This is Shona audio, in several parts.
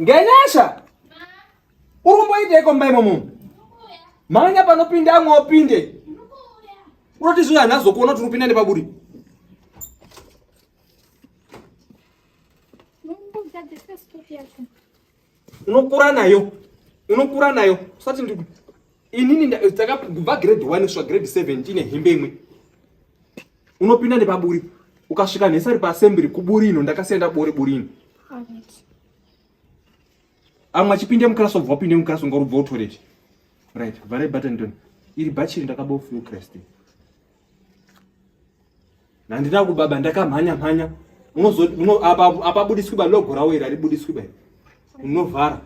ngenyasha urumboiteiko mba imomo manya panopinda amwe opinde unoti zviya nhazokuona kuti urupinda nepaburi unokura nayo unokura nayo usati ndi inini takabva grade 1 kusvika grade 7 tine hembe imwe unopinda nepaburi ukasvika nesari paassembly kuburi ino ndakasiya ndabore buri ino amwe achipinde muclass obva upinde muclass unga urubva utoreti right vhare button don iri bhachiri ndakabofukiresti Nandina kubaba ndakamhanya mhanya unozo uno apa apa budiswi ba logo rawo ira ribudiswi ba unovhara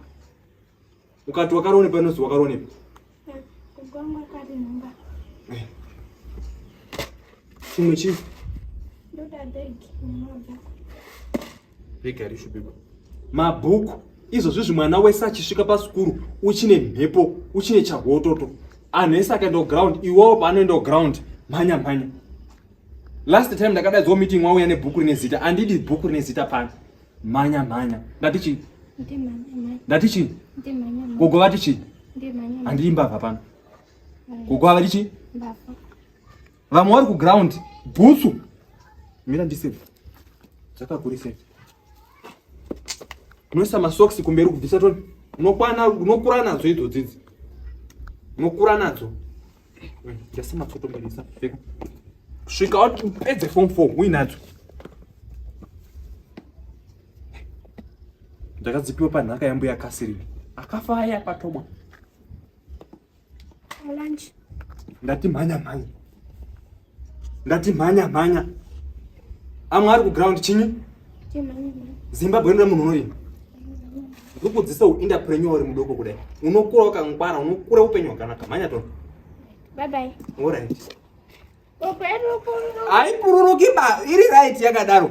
ukati wakarone pa nozi wakarone pa kugwanga kari namba eh. chimwe chi ndoda bag namba mabhuku izvozvizvi mwana wese achisvika pasikuru uchine mhepo uchine chahototo anhu ese akaenda kuground iwowo paanoenda kuground mhanya mhanya last time ndakadaidzwa meeting wauya nebhuku rine zita andidi bhuku rine zita pano mhanya mhanya ndati chii ndati chii gogo vati chii handidi mbavha pano gogo havati chii vamwe vari kuground bhutsu mira ndiseve dzakakurisei unoisa masocks kumberi kubvisa to unokwana unokura nadzo idzo dzidzi unokura nadzo ndasa matsotomberisa pfeka svika wati upedze form four uinadzo ndakadzipiwa panhaka yambuya kasirina akafa aya patomwa Lunch. Ndati mhanya mhanya. Ndati mhanya mhanya. Amwe ari kuground chinyi? Zimbabwe inoda munhu unorima. Ndikukudzisa uinterpreneur uri mudoko kudai. Unokura wakangwara, unokura upenyu hwakanaka. Mhanya tona. Bye bye. All right. haipururuki ba iri right yakadaro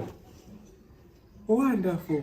wonderful